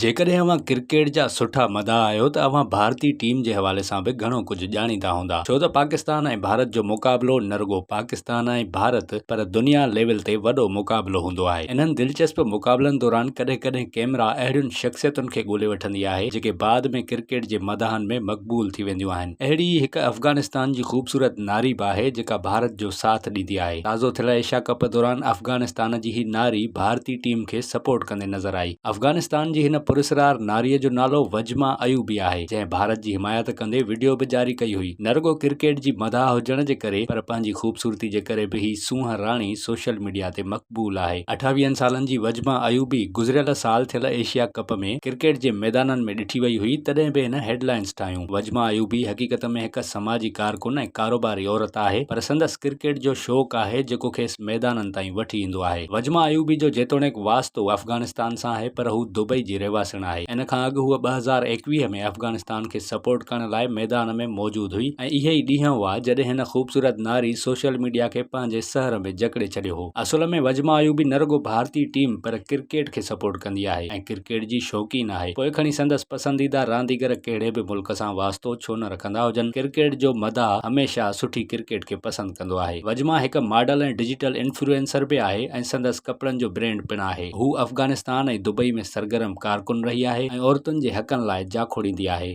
جيڪڏهن اوهان ڪرڪيٽ جا سٺا مداح آهيو ته اوهان ڀارتي ٽيم جي حوالي سان به گهڻو ڪجهه ڄاڻيندا هوندا ڇو ته پاڪستان ۽ ڀارت جو مقابلو نه رڳو پاڪستان ۽ ڀارت پر دنيا ليول تي وڏو مقابلو هوندو آهي انهن دلچسپ مقابلن دوران ڪڏهن ڪڏهن ڪئميرا اهڙين شخصيتن کي ڳولي وٺندي آهي جيڪي بعد ۾ ڪرڪيٽ جي مداحن ۾ مقبول ٿي وينديون آهن اهڙي ئي هڪ افغانستان جي خوبصورت ناري به آهي جيڪا ڀارت جو ساٿ ڏيندي آهي تازو ٿيل ايشيا ڪپ دوران افغانستان جي هي ناري ڀارتي ٽيم کي سپورٽ ڪندي نظر آئي. افغانستان جي هن پراسرار ناري جو نالو وجما ايوبي آهي، جنهن ڀارت جي حمايت ڪندي وڊيو به جاري ڪئي هئي. نه رڳو ڪرڪيٽ جي مداح هجڻ جي ڪري پر پنهنجي خوبصورتي جي ڪري به هي سونهن راڻي سوشل ميڊيا تي مقبول آهي. اٺاويهن سالن جي وجما ايوبي گذريل سال ٿيل ايشيا ڪپ ۾ ڪرڪيٽ جي ميدانن ۾ ڏٺي وئي هئي تڏهن به هن هيڊ لائنز ٺاهيون. وجما ايوبي حقيقت ۾ هڪ سماجي ڪارڪن ۽ ڪاروباري عورت آهي پر سندس ڪرڪيٽ جو شوق آهي جيڪو کيس ميدانن تائين وٺي ايندو آهي. وجما ايوبي جو جيتوڻيڪ واسطو افغانستان سان آهي پر هو دبئي جي رهواسڻ آهي. ان کان اڳ هوء ٻه هزار ايڪويهه ۾ افغانستان کي سپورٽ ڪرڻ لاء ميدان ۾ موجود هئي ۽ اهي ئي ڏينهن هئا جڏهن هن خوبصورت ناري سوشل ميڊيا کي پنهنجي سحر ۾ جڪڙي ڇڏيو هو. اصل ۾ وجما ايوبي نه رڳو ڀارتي ٽيم پر ڪرڪيٽ کي سپورٽ ڪندي آهي ۽ ڪرڪيٽ جي شوقين آهي پوء کڻي سندس پسنديده رانديگر ڪهڙي به ملڪ سان واسطو ڇو نه رکندا هجن ڪرڪيٽ جو مداح هميشه سٺي ڪرڪيٽ کي پسند ڪندو آهي. وجما هڪ ماڊل ۽ ڊجيٽل انفلوئنسر به آهي ۽ سندس ڪپڙن جو برينڊ پڻ آهي. هو افغانستان ۽ دبئي ۾ سرگرم ڪارڪن رهي آهي ۽ عورتن جي حقن لاء جاکوڙيندي آهي.